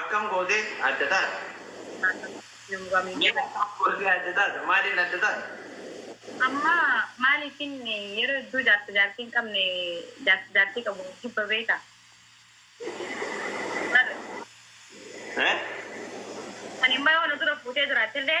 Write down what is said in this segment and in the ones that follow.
Akkam gootee adda taata? Mee akkam gootee adda taata? Maaliin adda taata? Amma maaliifin yeroo hedduu jaarsa jaartii hin qabne jaarsa jaartii qabu jibba beekta? Marre. Ee? Ani immoo yoo na dura fuutee jiraattellee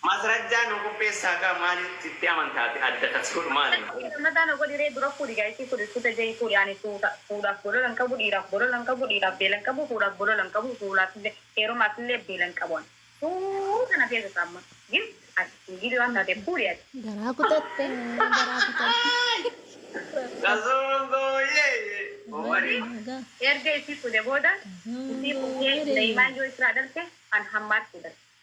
Masrajjaa nuu qopheessaa kaa maali sitti amantaa ati adda tas godhu maali Masrajjaa kee. Gammadaa na godhi ree dura fuudhi gaa ishii fuudhi suuta jahii fuudhi ani suuta fuudhaaf bolola hin qabu dhiiraaf bolola hin qabu dhiiraaf beela hin qabu fuudhaaf bolola hin qabu fuulaaf illee heerumaaf illee beela hin qabu ani suuta na feesisa amma gifti ati singiilii waan taateef fuudhi ati. Garaa kutatte na garaa kutatte rabbi Qasooman koo yee yee Omari. Omari naa gaa. Erga isii fuudhe booda isii Qasooman koo fuudhee yee yee. daimaan yoo israa dhalte an hammaatti dha.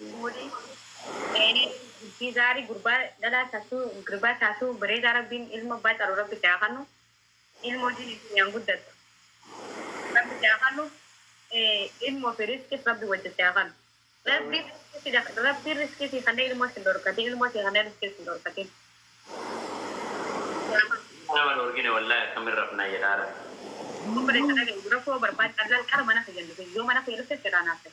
Wly Zaynee bultii zaarii gurbaa dhalaa tatuu grbaa taatuu bareedaa rabbiin ilmo abbaa caalu rabbi si haa kannu ilmo diini dunyaan guddattu rabbi si haa kannu ilmo fi risqis rabbi wajji si haa kannu rabbiin risqii si rabbiin risqii sii kannee ilmo sin dhorkatin ilmo sii kannee risqii sin dhorkatin sii haa kannu. Ilmoo nama dhoorgine wallahi akkamin rafnaa jedhaa rabbi. Obboleessa dhaga'i rakkoo barbaadi allal qara mana kiyyan dhufe yoo mana kiyya dhufte sirraa naaf ta'i.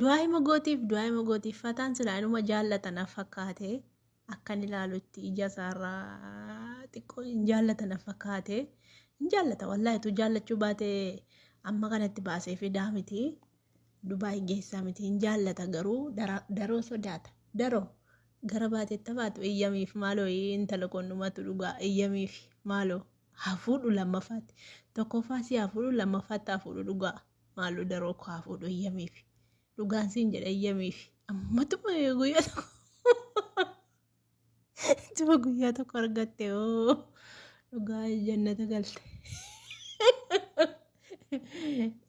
Du'aa'ima gootiif du'aa'ima gootiif fataan silaa inuma jaallata na fakkaate akkan ilaalutti ija isaarraa xiqqoo hin jaallata na fakkaate hin jaallata wallaahi utuu jaallachuu baate amma kanatti baasee fidaa miti Dubaay geessaa miti hin jaallata garuu dara- daroo sodaata daroo gara baateetta baatu eeyyamiif maaloo intala qonnumatu dhugaa eeyyamiif maaloo hafuudhu lammaffaatti tokkoffaa si hafuudhu lammaffaatti hafuudhu dhugaa. Maaloo daroo koo haa fuudhu eeyyamiif. Dhugaan siin jedha eeyyamiif. Ammatuma guyyaa tokko ittuma guyyaa tokko argatte oo dhugaa jannata galte.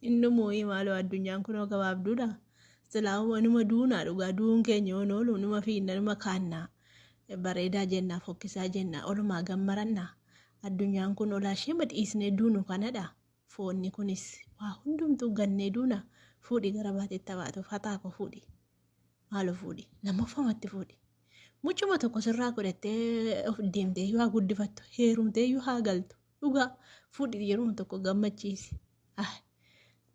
Inni moo'ii maaloo addunyaan kunoo gabaabduudha. Silaawuma numa duunaa dhugaa duun keenya yoon oolu numa fiinna numa kaannaa. Bareedaa jennaa fokkisaa jennaa olumaa gammarannaa. Addunyaan kun olaa ishee madhiisnee duunu kanadha. Foonni kunis waa hundumtuu gannee duuna fuudhi gara baatitti habaatu faxaa koo fuudhi maalo fuudhi lammaffamatti fuudhi mucuma tokko sirraa godhattee of deemtee iyyuu haa guddifattu heerumtee iyyuu haa galtu dhugaa fuudhi yeruma tokko gammachiisi ah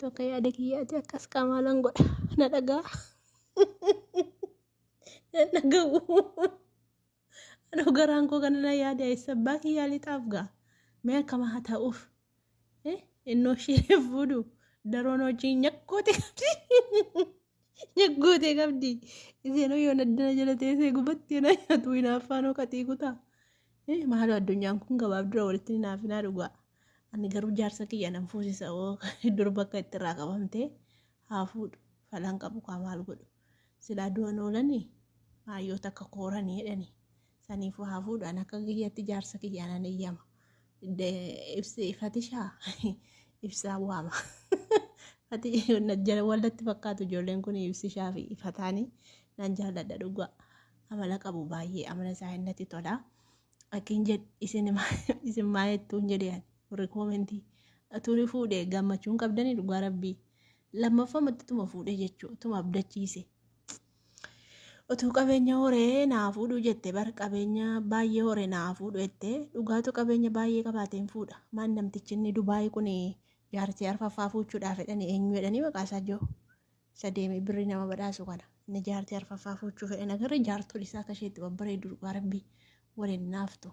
tokko yaada kiyyaati akkas qaamaalan godha na dhagaa na dhaga'u. Anoo garaan koo kana na yaada eessa abbaa kiyyaa lixaaf ga'a. Mee akkama haa ta'uuf. Eh, Innoo ishee fuudhu daroon hojii nyakkoote qabdi. Nyakkoote qabdi. Isheenoo yoo naddana jala teessee gubatti yoo na nyaatu hinaaffaanoo qaxii kutaa. Eh, Maaloo addunyaan kun gabaabdura walitti hin hinaafinaa dhugaa. Ani garuu jaarsa kiyya nan fuusisa oo durba akka itti irraa qabamtee haa fuudhu falan qabu kaa maal godhu. silaa du'an oolani aayyoota akka koorani jedhani saniifuu haa fuudhaan akka kiyyatti jaarsa kiyyaan an eeyyama ibsi fatishaa ibsaa waama fatishaa wallatti fakkaatu ijoolleen kun ibsishaa fi ifataanii nan jaalladha dhugaa amala qabu baay'ee amala isaa innatti tola akkin jedh isin isin maayettuun jedhe warri koomentii turi fuudhe gammachuun qabdanii dhugaa rabbii lammaffamatti utuma fuudhee jechuu utuma abdachiise utuu qabeenya horee naa fuudhuu jette bar qabeenya baay'ee horee naa fuudhu jette dhugaatu qabeenya baay'ee qabaateen fuudha maan namtichi inni dubaayii kun jaartii arfaffaa fuuchuudhaaf jedhanii eenyu jedhanii maqaa isaa jiru isa deemee birrii nama badhaasu kana inni jaartii arfaffaa fuuchuu fedhan agarre jaartolii isaa akka isheetti babbareedu dhugaa rabbii waliin naaftu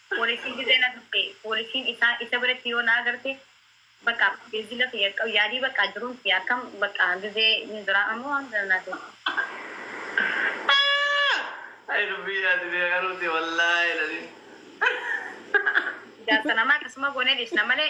Poolisiin gizee na tuqxe poolisiin isaa isa biratti yoo na agarte baqaa bilbila kiyya qabu yaadii baqaa jiruun kiyya akkam baqaa gizee hin jiraa ammoo waan kana naa tuqxe. Ayii dubbii yaadii bee garuu tee wallaahi lazim. Jaarsa namaa akkasuma goonee dhiisna malee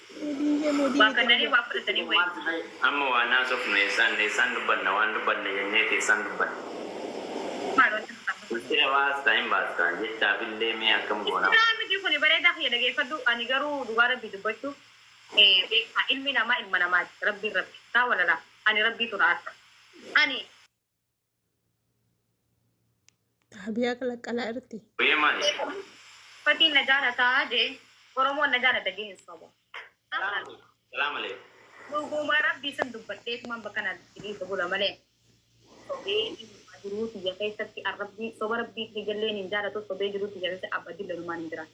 Waa kannanii waa fudhatanii wayii. Amma waa hin haasofnu eessaan eessaan dubbanna waan dubbanna jenneeti eessaan dubbanna. Mee maal wanti kun amma kun. Ulfina baasta hin baasta jechaaf illee mee akkam goona. Sirraa miti kuni bareedaa kiyya dhageeffadhu ani garuu dhugaa rabbii dubbachuuf beektaa ilmi namaa ilma namaati rabbiin rabbi saa walalaa ani rabbiitu na arsa ani. Habiyaa qalaqqalaa irratti. Wee maali? Fatiin na jaalataa jee Oromoon na jaalata jee hin sobu. Salaam aleekum. Dhugumaa rabbii san dubbadheetumaan bakka na dhiisa bula malee. Sobee ilmaa jiruu tiyya keessatti arrabbii soba rabbii tiyya illee hin jaalatu sobee jiruu tiyya keessatti abba dille ilmaan hin jiraatu.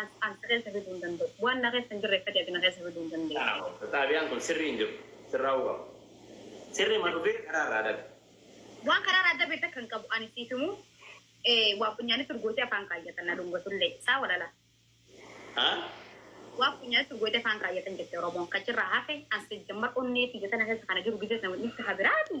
As as na keessa fiduu hin danda'u. Waan na keessa hin jirre akkati ati na keessa fiduu hin dandeessu. Aaww xaabiyaan kun sirrii hin jiru. Sirraa'uu qaba. Sirriima dhufee karaa irraa adabe. Waan karaa irraa adabe takka hin qabu. Ani siif himuu ee, waa funyaanitti urgootee afaan kaayyatan na dhungatullee. Saa walala. Haa? Waa funyaanitti urgootee afaan kaayyatan jette Oromoon. Kachirraa hafe an sijammar onnee tiyya tana keessa kana jiru gizee sana dhiifte ha biraati.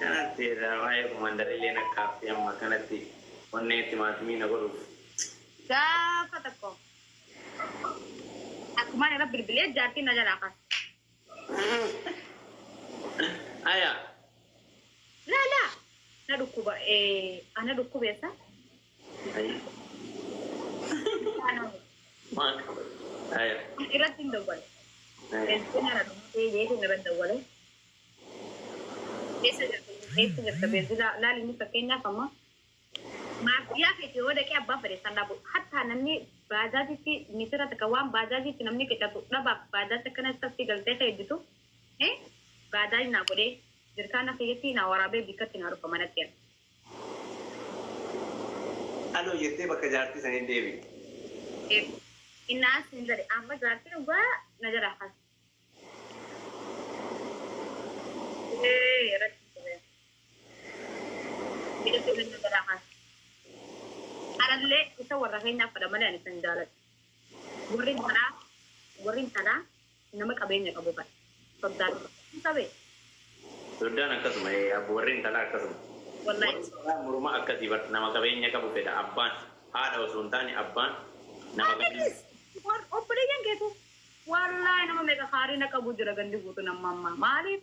Kanatti irraa waa'ee Komaandar illee na kaaftee amma akkanatti onnee timaatimii na godhuuf. Gaafa tokko akkumaan irra bilbilee jaartiin na jalaa kaate. Aya. Laa laa na dhukkuba ee ana dhukkubeessa. Irratti hin dawwale. Beeltoon ana dhumatee jeetu irratti dawwale. Keessa jirtu keessa jirta beelti laali inni fakkeenyaaf amma maafiyaa keessa yoo dhaqee abbaa fedhe isaan dhaabu hattaa namni baajaajitti misira takka waan baajaajitti namni qixatu dhabaaf baajaaji akkana isatti galtee keedditu baajaaji naa godhee jirkaana keessatti naa waraabee bikkatti naa dhufa manatti Aloo jettee bakka jaartii sanii deebi'i. Innaa siin jedhe amma jaartii dhugaa na jala has. Arallee isa warra keenyaaf fedha malee ani kan jaaladhu. Warri biraa warri intalaa Nama qabeenya qabu kana. Soddaan hin qabee? Soddaan akkasuma ee abbo warri intalaa akkasuma. Wallahi. Warri dhalaa morma akkasii bar nama qabeenya qabu fedha abbaan haadha osoo hin taane abbaan nama qabeenya Atis war obboleeyyan keetu wallahi nama meeqa haarina qabu jira gandi guutuun amma ammaa maaliif